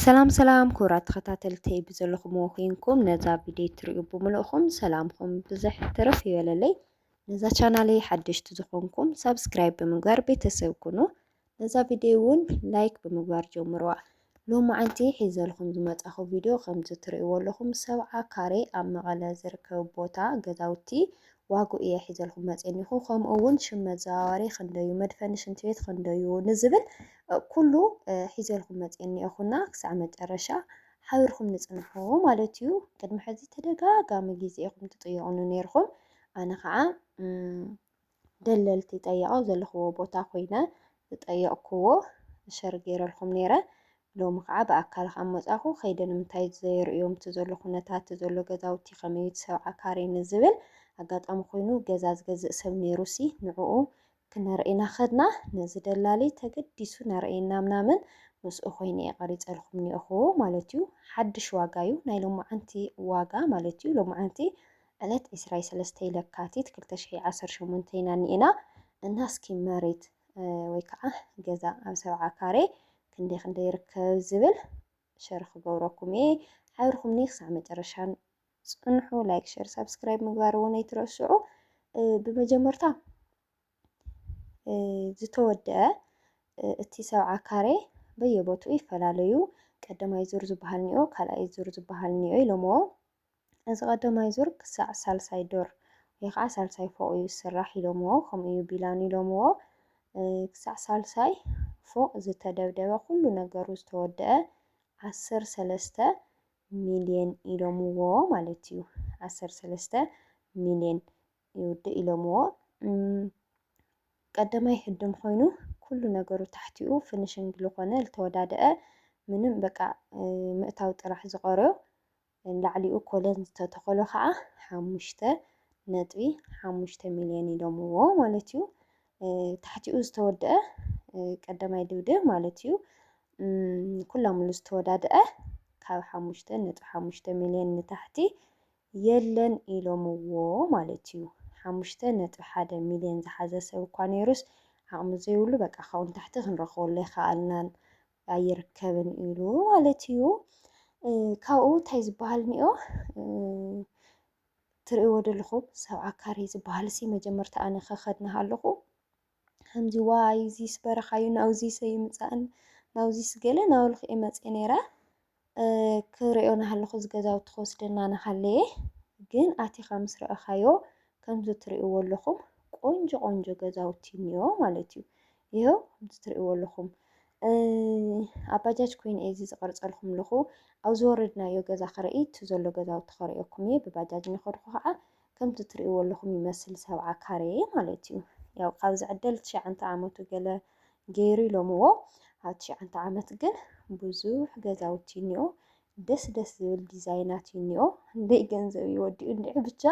ሰላም ሰላም ክቡራት ተኸታተልተይ ብዘለኹምዎ ኮይንኩም ነዛ ቪድዮ ትሪኡ ብምልእኹም ሰላምኹም ብዘሕ ትርፍ ይበለለይ። ነዛ ቻናለይ ሓደሽቲ ዝኾንኩም ሳብስክራይብ ብምግባር ቤተሰብ ኩኑ። ነዛ ቪድዮ እውን ላይክ ብምግባር ጀምርዋ። ሎሚ ዓንቲ ሒዘልኹም ዝመፃኹ ቪድዮ ከምዚ ትሪእዎ ኣለኹም ሰብዓ ካሬ ኣብ መቐለ ዝርከብ ቦታ ገዛውቲ ዋግኡ እየ ሒዘልኩም መጼኒኹ ከምኡ እውን ሽም መዘዋወሪ ክንደዩ መድፈኒ ሽንቲ ቤት ክንደዩ ንዝብል ኩሉ ሒዘልኩም መጼኒኹ እና ክሳዕ መጨረሻ ሓቢርኩም ንጽንሑ ማለት እዩ ቅድሚ ሕዚ ተደጋጋሚ ግዜ ኢኹም ትጥየቑኒ ነይርኹም ኣነ ከዓ ደለልቲ ጠየቐው ዘለኽዎ ቦታ ኮይነ ዝጠየቕክዎ ሸር ገይረልኩም ነይረ ሎሚ ኸዓ ብኣካል ካብ መፃእኹ ከይደ ንምንታይ እቲ ዘየርእዮም እቲ ዘሎ ኩነታት እቲ ዘሎ ገዛውቲ ከመይ እዩ እቲ ሰብዓ ካሬ ንዝብል ኣጋጣሚ ኮይኑ ገዛ ዝገዝእ ሰብ ነይሩሲ ንዕኡ ክነርእይና ከድና ነዚ ደላሊ ተገዲሱ ነርእየና ምናምን ምስኡ ኮይነ እየ ቀሪፀልኹም እኒኦኹ ማለት እዩ ሓድሽ ዋጋ እዩ ናይ ሎማዓንቲ ዋጋ ማለት እዩ ሎማዓንቲ ዕለት ዕስራይ ሰለስተይ ለካቲት ክልተ ሽሕን ዓሰርተ ሸሞንተን ኢና እኒኤና እና እስኪ መሬት ወይ ከዓ ገዛ ኣብ ሰብዓ ካሬ ክንደይ ክንደይ ይርከብ ዝብል ሸር ክገብረኩም እየ ሓብርኩምኒ ክሳዕ መጨረሻ ጽንሑ ላይክ ሸር ሳብስክራይብ ምግባር እውን ኣይትረስዑ ብመጀመርታ ዝተወደአ እቲ ሰብዓ ካሬ በየቦትኡ ይፈላለዩ ቀዳማይ ዙር ዝበሃል ኒኦ ካልኣይ ዙር ዝበሃል ኒኦ ኢሎምዎ እዚ ቀዳማይ ዙር ክሳዕ ሳልሳይ ዶር ወይ ኸዓ ሳልሳይ ፎቕ እዩ ዝስራሕ ኢሎምዎ ከምኡ እዩ ቢላን ኢሎምዎ ክሳዕ ሳልሳይ ፎቕ ዝተደብደበ ኩሉ ነገሩ ዝተወደአ ዓሰርተ ሰለስተ ሚልየን ኢሎምዎ ማለት እዩ ዓሰርተ ሰለስተ ሚልየን ይውድእ ኢሎምዎ ቀዳማይ ህድም ኮይኑ ኩሉ ነገሩ ታሕቲኡ ፍንሽንግ ዝኾነ ዝተወዳደአ ምንም በቃ ምእታው ጥራሕ ዝቐርዮ ንላዕሊኡ ኮለን ዝተተኸሎ ከኣ ሓሙሽተ ነጥቢ ሓሙሽተ ሚልዮን ኢሎምዎ ማለት እዩ። ታሕቲኡ ዝተወድኣ ቀዳማይ ድብድብ ማለት እዩ። ኩላምሉ ዝተወዳድኣ ካብ ሓሙሽተ ነጥቢ ሓሙሽተ ሚልዮን ንታሕቲ የለን ኢሎምዎ ማለት እዩ። ሓሙሽተ ነጥቢ ሓደ ሚልዮን ዝሓዘ ሰብ እኳ ነይሩስ ዓቕሚ ዘይብሉ በቃ ካብኡ ንታሕቲ ክንረኽበሉ ኣይከኣልናን ኣይርከብን ኢሉ ማለት እዩ። ካብኡ እንታይ ዝበሃል እኒኦ ትርእይዎ ዘለኹም ሰብዓ ካሬ ዝበሃል ሲ መጀመርታ ኣነ ከኸድና ኣለኹ ከምዚ ዋይ እዚስ በረኻዩ ናብዚሰ ይምፃእን ናብዚስ ገለ ናበልኩ እየ መፅየ ነይረ ክርእዮ ናሃለኹ እዚ ገዛውቲ ክወስደና ናሃለየ ግን ኣቲኻ ምስ ረኣኻዮ ከምዚ ትሪእዎ ኣለኹም ቆንጆ ቆንጆ ገዛውቲ እኒኦ ማለት እዩ። ይኸው ከምዚ ትሪእዎ ኣለኹም ኣብ ባጃጅ ኮይኑ እየ እዚ ዝቐርፀልኩም ኣለኹ ኣብ ዝወረድናዮ ገዛ ክርኢ እቲ ዘሎ ገዛውቲ ክርእየኩም እየ ብባጃጅ እናኸድኩ ከዓ ከምቲ ትርእይዎ ኣለኹም ይመስል ሰብዓ ካሬ ማለት እዩ። ያው ካብ ዝዕደል ትሽዓንተ ዓመቱ ገለ ገይሩ ኢሎምዎ። ኣብ ትሽዓንተ ዓመት ግን ብዙሕ ገዛውቲ እኒኦ ደስ ደስ ዝብል ዲዛይናት እኒኦ እንደይ ገንዘብ ይወዲኡ እንዲዑ ብቻ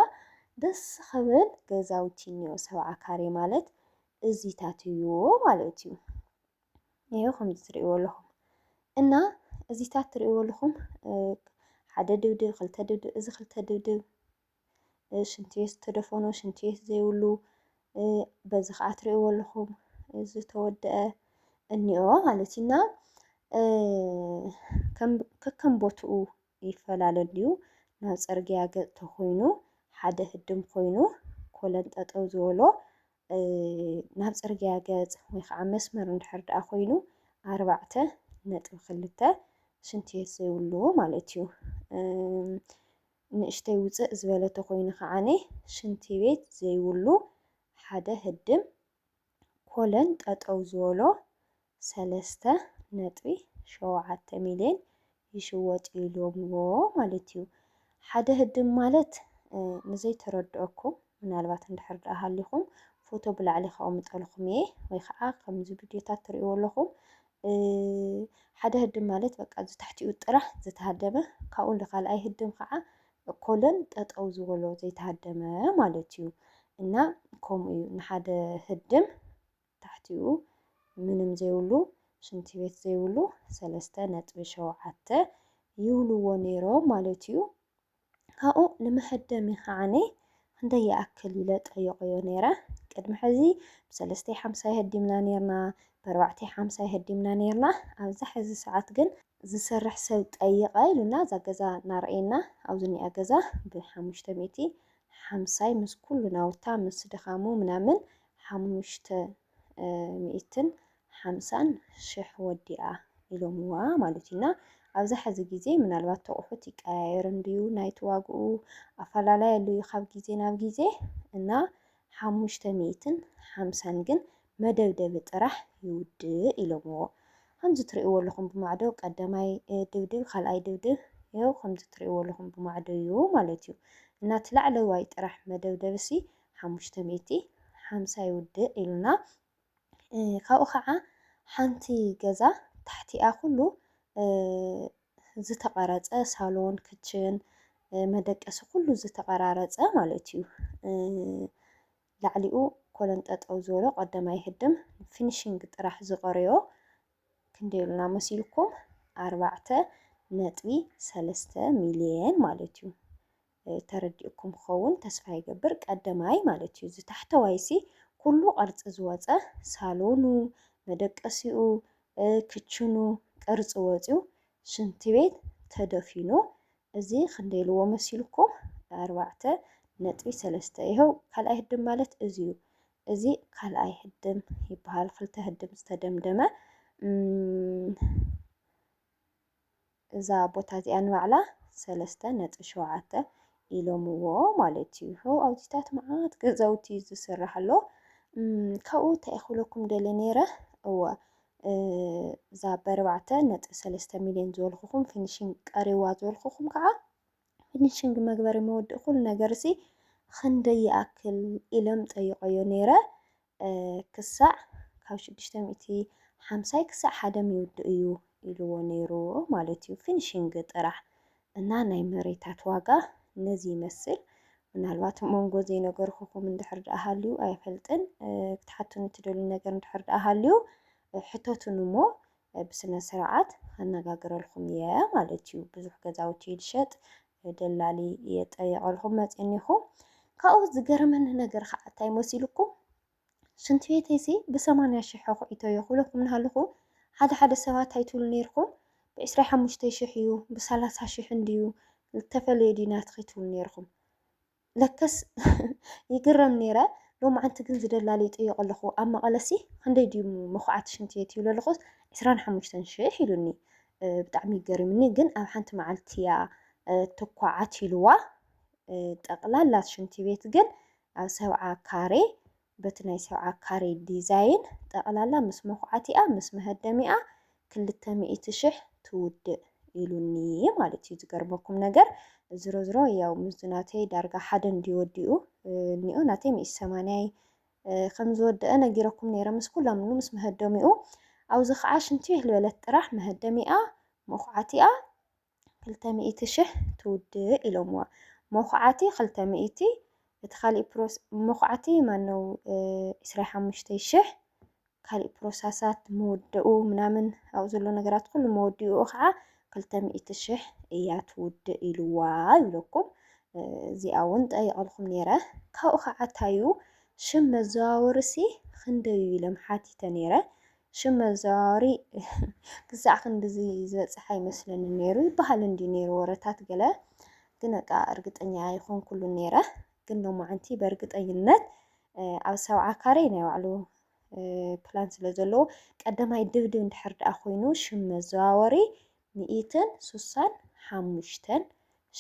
ደስ ኸብል ገዛውቲ እኒኦ ሰብዓ ካሬ ማለት እዚታት እዩ ማለት እዩ። ይኸው ከምዚ ትርእይዎ ኣለኹም እና እዚታት ትርእይዎ ኣለኹም ሓደ ድብድብ ክልተ ድብድብ እዚ ክልተ ድብድብ ሽንቲ ቤት ዝተደፈኑ፣ ሽንቲ ቤት ዘይብሉ በዚ ከዓ ትሪእዎ ኣለኹም ዝተወደአ እኒኦ ማለት እዩ እና ከከም ቦትኡ ይፈላለ እንድዩ ናብ ፅርግያ ገፅ ተኾይኑ ሓደ ህድም ኮይኑ ኮለን ጠጠው ዝበሎ ናብ ፅርግያ ገፅ ወይ ከዓ መስመር እንድሕር ደኣ ኮይኑ ኣርባዕተ ነጥቢ ክልተ ሽንቲ ቤት ዘይብሉ ማለት እዩ። ንእሽተይ ውጽእ ዝበለ ተኮይኑ ከዓኒ ሽንቲ ቤት ዘይብሉ ሓደ ህድም ኮለን ጠጠው ዝበሎ ሰለስተ ነጥቢ ሸውዓተ ሚልየን ይሽወጥ ኢሎምዎ ማለት እዩ ሓደ ህድም ማለት ንዘይተረድኦኩም ምናልባት እንድሕር ደኣ ሃሊኹም ፎቶ ብላዕሊ ከቅምጠልኹም እየ ወይ ከዓ ከምዚ ቪድዮታት ትሪእዎ ኣለኹም ሓደ ህድም ማለት በቃ ዝታሕቲኡ ጥራሕ ዝተሃደመ ካብኡ ንካልኣይ ህድም ከዓ ኮለን ጠጠው ዝበሎ ዘይተሃደመ ማለት እዩ እና ከምኡ እዩ ንሓደ ህድም ታሕቲኡ ምንም ዘይብሉ ሽንቲ ቤት ዘይብሉ ሰለስተ ነጥቢ ሸውዓተ ይብልዎ ነይሮም ማለት እዩ። ካብኡ ንመሀደሚ ከኣ ክንደይ ይኣክል ኢለ ጠይቐዮ ነይረ። ቅድሚ ሕዚ ብሰለስተይ ሓምሳ ይሀዲምና ነይርና፣ ብኣርባዕተይ ሓምሳ ይሀዲምና ነይርና፣ ኣብዛ ሕዚ ሰዓት ግን፣ ዝሰርሕ ሰብ ጠይቐ ኢሉና እዛ ገዛ እናርኣየና ኣብ ዝኒኣ ገዛ ብሓሙሽተ ሚእቲ ሓምሳይ ምስ ኩሉ ናውታ ምስ ድኻሙ ምናምን ሓሙሽተ፣ ሚእትን ሓምሳን ሽሕ ወዲኣ ኢሎምዋ ማለት እዩ እና ኣብዛ ሐዚ ግዜ ምናልባት ተቑሑት ይቀያየር እንድዩ ናይቲ ዋግኡ ኣፋላላይ ኣሎ እዩ ካብ ግዜ ናብ ግዜ እና ሓሙሽተ ሚእትን ሓምሳን ግን መደብደቢ ጥራሕ ይውድእ ኢሎምዎ ከምዚ ትሪእዎ ኣለኹም ብማዕዶ ቀደማይ ድብድብ ካልኣይ ድብድብ ይኸው ከምዚ ትሪእዎ ኣለኹም ብማዕዶ እዩ ማለት እዩ እና እቲ ላዕለዋይ ጥራሕ መደብደብሲ ሓሙሽተ ሚእቲ ሓምሳ ይውድእ ኢሉና ካብኡ ካዓ ሓንቲ ገዛ ታሕቲኣ ኩሉ ዝተቀረፀ ሳሎን ክችን መደቀሲ ኩሉ ዝተቀራረፀ ማለት እዩ ላዕሊኡ ኮለን ጠጠው ዝበሎ ቀደም ኣይህድም ፊኒሽንግ ጥራሕ ዝቀረዮ ክንደይ ኢሉና መሲልኩም ኣርባዕተ ነጥቢ ሰለስተ ሚልየን ማለት እዩ ተረዲኡኩም ክኸውን ተስፋ ይገብር ቀደማይ ማለት እዩ እዚ ታሕተዋይሲ ኩሉ ቅርጺ ዝወጸ ሳሎኑ መደቀሲኡ ክችኑ ቅርጺ ወጽዩ ሽንቲ ቤት ተደፊኑ እዚ ክንደይ ልዎ መሲልኩም ኣርባዕተ ነጥቢ ሰለስተ ይሀው ካልኣይ ህድም ማለት እዚ እዩ እዚ ካልኣይ ህድም ይበሃል ክልተ ህድም ዝተደምደመ እዛ ቦታ እዚኣ ንባዕላ ሰለስተ ነጥቢ ሸውዓተ ኢሎምዎ ማለት እዩ። ሕው ኣብዚታት መዓት ገዛውቲ እዩ ዝስራሕ ኣሎ። ካብኡ እንታይ እየ ክብለኩም ደልየ ነይረ እወ እዛ በርባዕተ ነጥቢ ሰለስተ ሚልዮን ዝበልኩኹም ፊኒሽንግ ቀሪዋ ዝበልኩኹም ከዓ ፊኒሽንግ መግበሪ መወድእ ኩሉ ነገር ሲ ክንደይ ይኣክል ኢሎም ጠይቀዮ ነይረ። ክሳዕ ካብ ሽዱሽተ ሚእቲ ሓምሳይ ክሳዕ ሓደ ሚውድእ እዩ ኢልዎ ነይሩ ማለት እዩ ፊኒሽንግ ጥራሕ እና ናይ መሬታት ዋጋ ነዚ ይመስል ምናልባት መንጎ ዘይነገርኩኹም እንድሕር ደኣ ሃልዩ ኣይፈልጥን ክትሓቱኒ ትደልዩ ነገር እንድሕር ደኣ ሃልዩ ሕተቱን እሞ ብስነ ስርዓት ኣነጋግረልኩም እየ ማለት እዩ ብዙሕ ገዛውቲ ልሸጥ ደላሊ የጠየቐልኩም መፂኒኹ ካብኡ ዝገረመኒ ነገር ከዓ እንታይ መሲልኩም ሽንቲ ቤተይሲ ብሰማንያ ሽሕ ኣኹዒቶ እየ ክብለኩም እናሃለኹ ሓደ ሓደ ሰባት እንታይ ትብሉ ነይርኩም ብዕስራይ ሓሙሽተይ ሽሕ እዩ ብሰላሳ ሽሕ እንድዩ ዝተፈለየ ድዩ ናትኺ ትብሉ ነይርኩም ለከስ ይግረም ነይረ ሎማዓንቲ ግን ዝደላል ይጥየቕ ኣለኹ ኣብ መቐለሲ ክንደይ ድዩ መኹዓቲ ሽንቲ ቤት ይብለ ኣለኹ ዕስራን ሓሙሽተን ሽሕ ኢሉኒ ብጣዕሚ ይገርምኒ ግን ኣብ ሓንቲ መዓልቲ እያ ትኳዓት ኢልዋ ጠቕላላት ሽንቲ ቤት ግን ኣብ ሰብዓ ካሬ በቲ ናይ ሰብዓ ካሬ ዲዛይን ጠቕላላ ምስ መኹዓቲኣ ምስ መሀደሚኣ ክልተ ሚእቲ ሽሕ ትውድእ ኢሉኒ ማለት እዩ ዝገርመኩም ነገር ዝሮዝሮ ያው ምስዚ ናተይ ዳርጋ ሓደ እንድዩ ወዲኡ እኒኦ ናተይ ሚእቲ ሰማንያይ ከም ዝወደአ ነጊረኩም ነይረ ምስ ኩሎም ን ምስ መሀደሚኡ ኣብዚ ከዓ ሽንቲ ይህልበለት ጥራሕ መሀደሚኣ መኹዓቲኣ ክልተ ሚእቲ ሽሕ ትውድእ ኢሎምዋ መኹዓቲ ክልተ ሚእቲ እቲ ካሊእ ፕሮስ መኹዓቲ ማነው ዕስራ ሓሙሽተ ሽሕ ካሊእ ፕሮሳሳት ምውደኡ ምናምን ኣብኡ ዘሎ ነገራት ኩሉ መወዲኡ ከዓ ክልተ ሚእቲ ሽሕ እያ ትውድእ ኢልዋ ይብለኩም እዚኣ እውን ጠይቐልኩም ነይረ ካብኡ ከዓ ታዩ ሽም መዘዋወርሲ ክንደዩ ኢሎም ሓቲተ ነይረ ሽም መዘዋወሪ ክሳዕ ክንድዚ ዝበጽሕ ኣይመስለንን ነይሩ ይበሃል እንድዩ ነይሩ ወረታት ገለ ግን በቃ እርግጠኛ ኣይኮንኩሉን ነይረ ግን ሎማዓንቲ በእርግጠኝነት ኣብ ሰብዓ ካሬ ናይ ባዕሉ ፕላን ስለ ዘለዎ ቀዳማይ ድብድብ እንድሕር ደኣ ኮይኑ ሽም መዘዋወሪ ሚኢትን ሱሳን ሓሙሽተን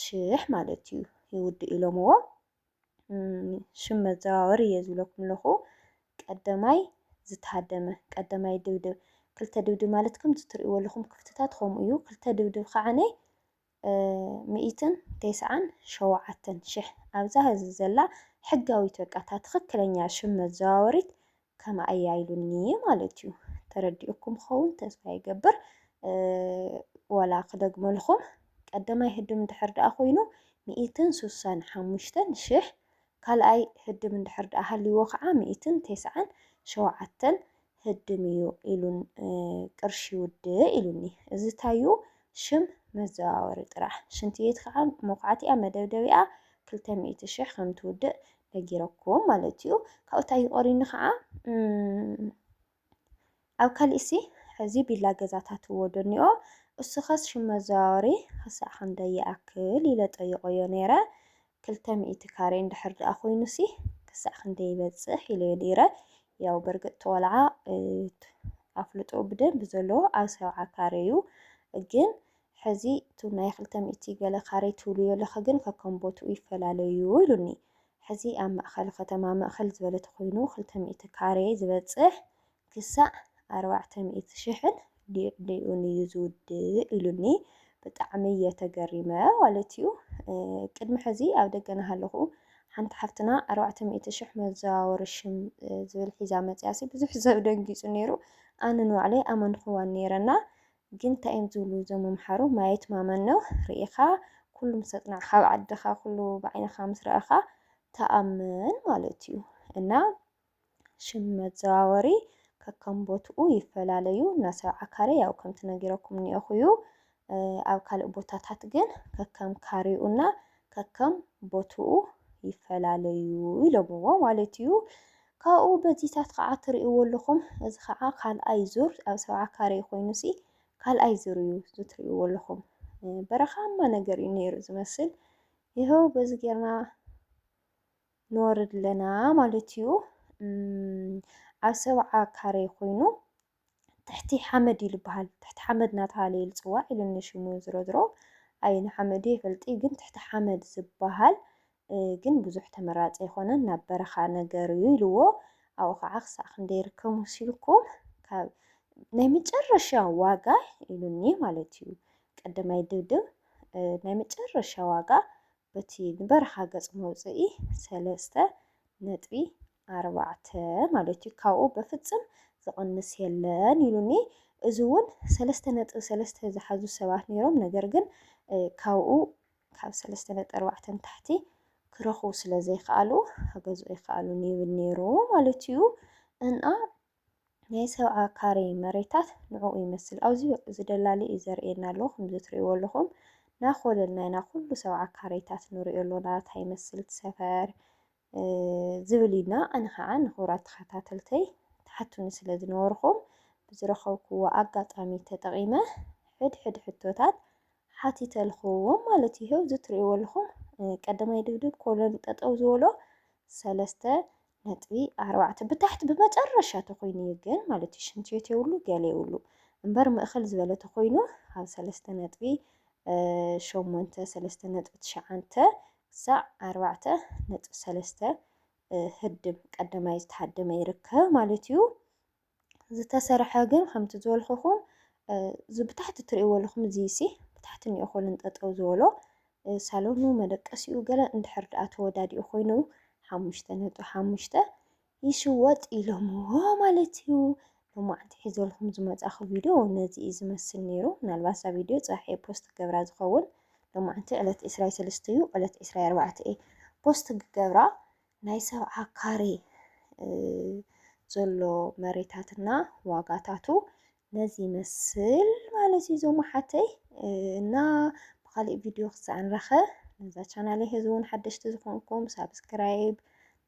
ሽሕ ማለት እዩ ይውድእ ኢሎምዎ ሽም መዘዋወሪ እየ ዝብለኩም ኣለኹ። ቀደማይ ዝተሃደመ ቀደማይ ድብድብ ክልተ ድብድብ ማለት ከምቲ ትርእይዎ ኣለኹም ክፍትታት ከምኡ እዩ ክልተ ድብድብ ከዓነ ሚእትን ቴስዓን ሸውዓተን ሽሕ ኣብዛ ህዚ ዘላ ሕጋዊት በቃ እታ ትኽክለኛ ሽም መዘዋወሪት ከምኣ እያ ኢሉኒ ማለት እዩ ተረዲኡኩም ክኸውን ተስፋ ይገብር ዋላ ክደግመልኹም ቀደማይ ህድም እንድሕር ደኣ ኮይኑ ሚእትን ሱሳን ሓሙሽተን ሽሕ ካልኣይ ህድም እንድሕር ደኣ ሃልይዎ ከዓ ሚእትን ቴስዓን ሸውዓተን ህድም እዩ ኢሉን ቅርሺ ውድእ ኢሉኒ እዚ ታዩ ሽም መዘዋወሪ ጥራሕ ሽንቲ ቤት ከዓ መኩዓቲኣ መደብደቢኣ ክልተ ሚእቲ ሽሕ ከም ትውድእ ነጊረኩም ማለት እዩ ካብኡ እንታይ ይቆሪኒ ከዓ ኣብ ካሊእሲ ሕዚ ቢላ ገዛታት ወደኒኦ እሱኸስ ሽም መዘዋወሪ ክሳዕ ክንደይ ይኣክል ኢለ ጠይቆዮ ነይረ ክልተ ሚእቲ ካሬ እንድሕር ድኣ ኮይኑሲ ክሳዕ ክንደይ ይበፅሕ ኢለዮ ነይረ ያው በርግጥ ተቆልዓ ኣፍልጦ ብደንብ ዘለዎ ኣብ ሰብዓ ካሬ እዩ ግን ሕዚ እቱ ናይ ክልተ ሚእቲ ገለ ካሬ ትብሉዮለኸ ግን ከከም ቦትኡ ይፈላለዩ ኢሉኒ። ሕዚ ኣብ ማእኸል ኸተማ ምእኸል ዝበለ ተኾይኑ ክልተ ሚእቲ ካሬ ዝበፅሕ ክሳዕ ኣርባዕተ ሚእቲ ሽሕን ሊዕሊኡን እዩ ዝውድእ ኢሉኒ። ብጣዕሚ እየ ተገሪመ ማለት እዩ። ቅድሚ ሕዚ ኣብ ደገ ናሃለኹ ሓንቲ ሓፍትና ኣርባዕተ ሚእቲ ሽሕ መዘዋወሪ ሽም ዝብል ሒዛ መፅያሲ ብዙሕ ሰብ ደንጊፁ ነይሩ። ኣነ ንባዕለይ ኣመንኹዋን ነይረና። ግን እንታይ እዮም ዝብሉ እዞም መምሓሩ ማየት ማመን ነው ርኢኻ ኩሉ ምስ ኣጽናዕ ካብ ዓድኻ ኩሉ ብዓይንኻ ምስ ረኣኻ ተኣመን ማለት እዩ እና ሽም መዘዋወሪ ከከም ቦትኡ ይፈላለዩ እና ሰብዓ ካሬ ያው ከምቲ ነጊረኩም ኒኦኹ እዩ ኣብ ካልእ ቦታታት ግን ከከም ካሬኡና ከከም ቦትኡ ይፈላለዩ ኢሎምዎ ማለት እዩ ካብኡ በዚታት ኸዓ ትርእይዎ ኣለኹም። እዚ ኸዓ ካልኣይ ዙር ኣብ ሰብዓ ካሬ ኮይኑሲ ካልኣይ ዙር እዩ እዚ ትርእይዎ ኣለኹም። በረኻማ ነገር እዩ ነይሩ ዝመስል። ይኸው በዚ ጌርና ንወርድ ኣለና ማለት እዩ። ኣብ ሰብዓ ካሬ ኮይኑ ትሕቲ ሓመድ እዩ ልበሃል ትሕቲ ሓመድ ናተባህለ እዩ ልፅዋዕ ኢሉኒ ሽሙ ዝሮዝሮ ኣየኑ ሓመድ እዩ ኣይፈልጥይ ግን ትሕቲ ሓመድ ዝበሃል ግን ብዙሕ ተመራፂ ኣይኮነን ናብ በረኻ ነገር እዩ ኢልዎ ኣብኡ ከዓ ክሳዕ ክንደይ ይርከብ መሲልኩም ካብ ናይ መጨረሻ ዋጋ ኢሉኒ ማለት እዩ ቀደማይ ድብድብ ናይ መጨረሻ ዋጋ በቲ ንበረኻ ገጽ መውጽኢ ሰለስተ ነጥቢ ኣርባዕተ ማለት እዩ ካብኡ በፍጽም ዝቕንስ የለን ኢሉኒ እዚ ውን ሰለስተ ነጥቢ ሰለስተ ዝሓዙ ሰባት ኔሮም ነገር ግን ካብኡ ካብ ሰለስተ ነጥቢ ኣርባዕተ ንታሕቲ ክረኽቡ ስለ ዘይከኣሉ ክገዝኡ ኣይከኣሉን ይብል ኔሩ ማለት እዩ እና ናይ ሰብዓ ካሬ መሬታት ንዕኡ ይመስል ኣብዚ እዚ ደላሊ እዩ ዘርእየና ኣሎ ከምዚ ትርእይዎ ኣለኹም ናኾለልና ኢና ኩሉ ሰብዓ ካሬታት ንሪኦ ኣሎና እንታይ ይመስል እቲ ሰፈር ዝብል እዩና ኣነ ከዓ ንኽብራት ተኸታተልተይ ትሓቱኒ ስለ ዝነበርኹም ብዝረኸብኩዎ ኣጋጣሚ ተጠቒመ ሕድሕድ ሕቶታት ሓቲተልኹዎም ማለት እዩ እዚ ትርእይዎ ኣለኹም ቀዳማይ ድብድብ ኮሎን ጠጠው ዝበሎ ሰለስተ ነጥቢ ኣርባዕተ ብታሕቲ ብመጨረሻ ተኾይኑ እዩ ግን ማለት እዩ ሽንቲ ቤት የብሉ ገለ የብሉ እምበር ምእኽል ዝበለ ተኾይኑ ኣብ ሰለስተ ነጥቢ ሸሞንተ ሰለስተ ነጥቢ ትሽዓንተ ክሳዕ ኣርባዕተ ነጥቢ ሰለስተ ህድም ቀዳማይ ዝተሃደመ ይርከብ ማለት እዩ። ዝተሰርሐ ግን ከምቲ ዝበልኩኹም እዚ ብታሕቲ ትርእይዎ ኣለኹም እዚሲ ብታሕቲ እኒኦ ኮለን ጠጠው ዝበሎ ሳሎኑ መደቀሲኡ ገለ እንድሕር ደኣ ተወዳዲኡ ኮይኑ ሓሙሽተ ነጥቢ ሓሙሽተ ይሽወጥ ኢሎምዎ ማለት እዩ። ሎማዕንቲ ሒዘልኩም ዝመጻኹ ቪድዮ ነዚ እዩ ዝመስል ነይሩ። ምናልባት እዛ ቪድዮ ጽባሕ እየ ፖስት ክገብራ ዝኸውን ሎማዕንቲ ዕለት ዕስራይ ሰለስተ እዩ ዕለት ዕስራይ ኣርባዕተ እየ ፖስት ክገብራ ናይ ሰብዓ ካሬ ዘሎ መሬታትና ዋጋታቱ ነዚ ይመስል ማለት እዩ ዞም ሓተይ እና ብካሊእ ቪድዮ ክሳዕ ንረኸ ነዛ ቻናለይ ህዚ እውን ሓደሽቲ ዝኾንኩም ሳብስክራይብ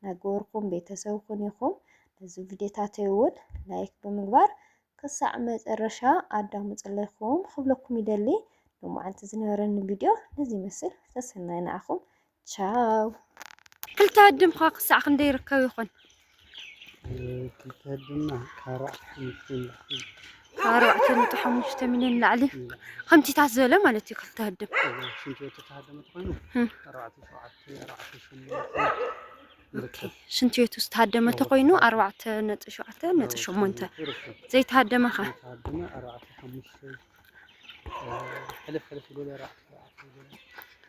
ናገበርኩም ቤተሰብ ኩን ይኹም ነዚ ቪድዮታተይ እውን ላይክ ብምግባር ክሳዕ መጨረሻ ኣዳምፅለይኩም ክብለኩም ይደሊ ንመዓልቲ ዝነበረኒ ቪድዮ ነዚ ይመስል ሰሰናይ ንዓኹም ቻው። ክልተ ኣድም'ኸ ክሳዕ ክንደይ ይርከብ ይኾን? ክልተ ኣድማ ካብ ኣርባዕተ ነጥቢ ሓሙሽተ ሚልዮን ንላዕሊ ከምቲታት ዝበለ ማለት እዩ። ክልተ ኣድም ሽንትቤቱ ዝተሃደመ ተኮይኑ ኣርባዕተ ነጥቢ ሸውዓተ ነጥቢ ሸሞንተ ዘይተሃደመ ኸ